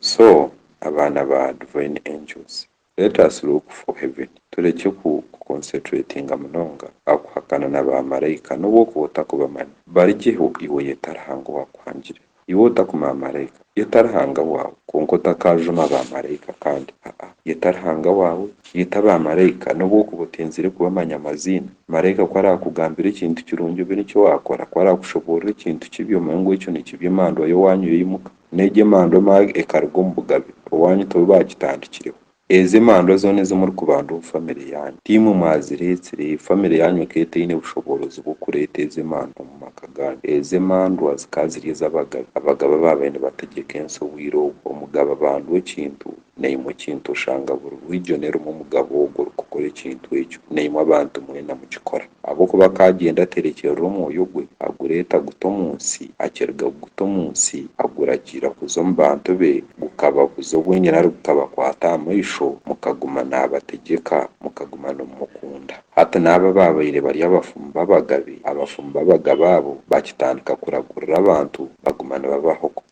So abaana ba Divine Angels let us look for heaven turekye ku concentratinga munonga aha kuhakana na ba Maraika nobu okuba otakubamanya barigyeho iwe yeta Ruhanga owakuhangire iwe otakuma Maraika yeta Ruhanga waawe kwonka otakajuma ba Maraika kandi haa yeta Ruhanga waawe yeta ba Maraika nobu okuba otenzire kubamanya amaziina Maraika ku arakugambira ekintu kirungi obe nikyo wakora ku arakushoborora ekintu kibi omanye ngu ekyo nikibi emandwa yowanyu yoyimuka n'egi emandwa emwe ekaruga omu bugabe owanyu tibo baagitandikireho. Ezi emandwa zoona ezi murikubandaho omu famire yaanyu, tiimwe mwazireetsire, famire yaanyu ekaba etaine bushoboorozi bw'okureeta ezi emandwa omu maka gaanyu. Ezi emandwa zikaba ziri ez'abagabe, abagabe ababaire nibategyeka ensi obwire obwo. Omugabe abandwa ekintu, Naimwe ekintu oshanga buri bwijo nerimwe omugabo ogwo orikukora ekintu ekyo, naimwe abantu mwena mukikora. Ahabw'okuba akaagyenda aterekyerera omwoyo gwe, agureeta guta omu nsi, akiriga kuguta omu nsi, aguragiira kuza omu bantu be, gukababuza obwenyine ari gukabakwata aha maisho, mukaguma naabategyeka, mukaguma nimumukunda. Hati n'abo abaabaire bari abafumu b'abagabe, abafumu b'abagabe abo baakitandika kuragurira abantu baguma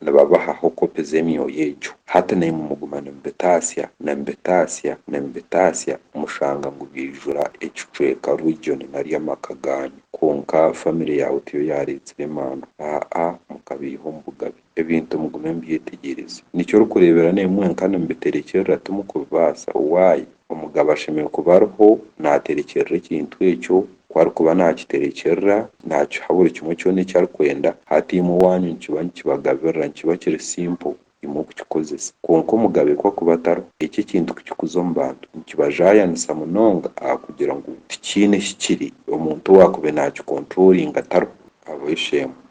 nibabahaho kopi z'emyoyo egyo. Hati naimwe muguma nimubitaasya, nimubitaasya, nimubitaasya, mushanga ngu byaijura ekicweka rwijoni nari amaka gaanyu. Kwonka famire yaawe tiyo yaareetsire emaanu. Aa-a, mukabaiha omu bugabe. Ebintu mugume mubyetegyereze. Niki orikureebera naimwe mwenka nimubiterekyerera timukubibaasa? Why? Omugabo ashemereire kuba ariho naaterekyerera ekintu ekyo. Ku arikuba naakiterekyerera, naakiha buri kimwe kyona eki arikwenda. Hati imwe owaanyu nikiba nikibagabirira, nikiba kiri simple imwe okukikozesa. Kwonka omugabe ku akuba atariho, ekyo ekintu kukikuza omu bantu nikibajaayanisa munonga ahakugira ngu tikiine hi kiri, omuntu owaakube naakikonturolinga tariho. Habw'esheemwe,